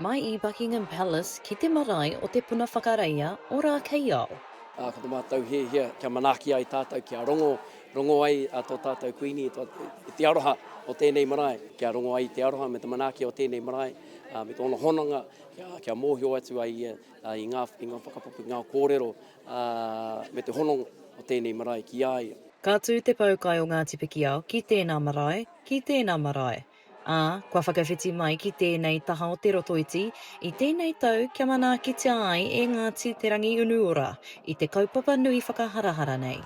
Mai i Buckingham Palace ki te marae o Te Puna Whakareia o Rākeiao. Ā, ko te mātou hiahia kia manaaki ai tātou, kia rongo, rongo ai tō tātou Kuini, tō te aroha o tēnei marae, kia rongo ai te aroha me te manaaki o tēnei marae, ā, me tōna hononga, kia, kia mōhio atu ai ia i ngā, i ngā whakapapu, ngā kōrero Ā, me te hononga o tēnei marae ki a ia. Ka tū te poukai o Ngāti Pikiao ki tēnā marae, ki tēnā marae, ā, kua whakawhiti mai ki tēnei taha o Te Rotoiti i tēnei tau kia manaakitia ai e Ngāti Te Rangiunuora i te kaupapa nui whakaharahara nei.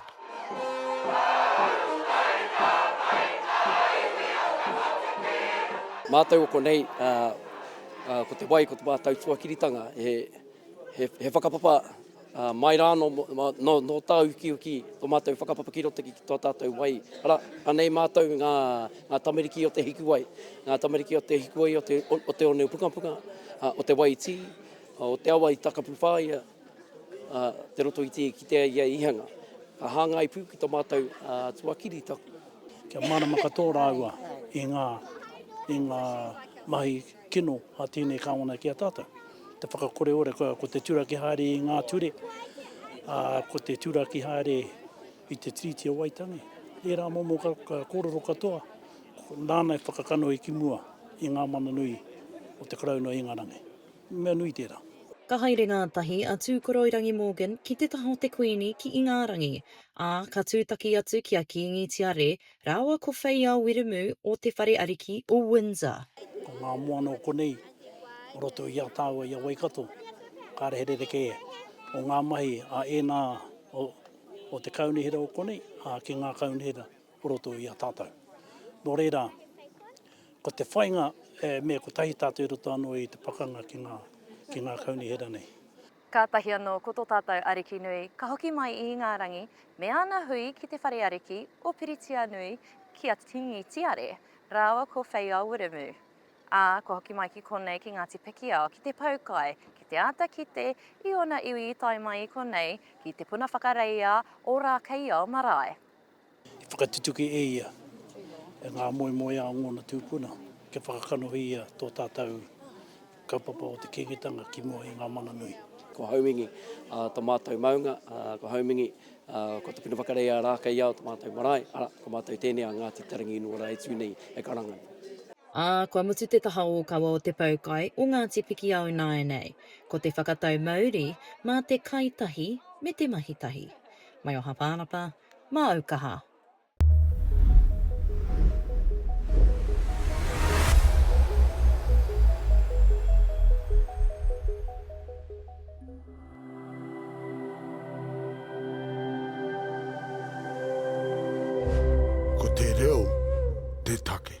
Mātou o konei, ā, ko te wai, ko te mātou tuakiritanga, he. He whakapapa mai rā nō tāu ukiuki, tō mātou whakapapa ki roto ki tō tātou wai. Arā, anei mātou ngā tamariki o te hikuwai, ngā tamariki o te hikuwai o te one o Pukapuka, o te wai tī, o te awa i takapu whāia te roto i te i kitea ia i hanga. Ka hāngai pū ki tō mātou tuakiri taku. Kia mārama katoa rāua i ngā mahi. Tino a tēnei Kawana ki a tātou. Te whakakore ora ko, ko te turaki haere i ngā ture, ā, ko te turaki haere i te Tiriti o Waitangi. Ērā momo ka, ka kōrero katoa, nāna e whakakanohi ki mua i ngā mana nui o te Karauna o Ingarangi. Mea nui tērā. Ka haere ngātahi a Tūkoroirangi Morgan ki te taha o te Kuini ki Ingarangi, ā, ka tūtaki atu ki a Kīngi Tiare Rāua ko Wheiao Wiremu o Te Whare Ariki o Windsor. Ko ngā moana o konei, o roto i a tāua i a Waikato, kāre he rerekē o ngā mahi a ēnā o te kaunihera o konei, ā, ki ngā kaunihera o roto i a tātou. Nō reira, ko te whainga, e mea kotahi tātou i roto anō i te pakanga ki ngā kaunihera nei. Kātahi anō ko tō tātou Ariki nui ka hoki mai i ngā rangi me Āna hui ki te whare ariki o Piritianui ki a Kingi Tiare rāua ko Wheiao Wiremu, ā, kua hoki mai ki konei ki Ngāti Pikiao ki te pau kai ki te āta kite i ōna iwi i tae mai i konei ki Te Puna Whakareia o Rākeiao marae. I whakatutuki e ia ngā moemoeā o ngōna tūpuna kia whakakanohia tō tātou kaupapa o te Kīngitanga ki mua i ngā mana nui. Ko Haumingi tō mātou maunga, ko Haumingi, ko Te Puna Whakarei a Rākeiao tō mātou marae, arā, ko mātou tēnei a Ngāti Te Ranginuara e tū nei e karanga. Ā, kua mutu te taha ōkawa o te poukai o Ngāti Pikiao ināianei, ko te whakatau mauri mā te kai tahi me te mahi tahi. Mai o Hapānapa, Māu kaha. Ko te reo te take.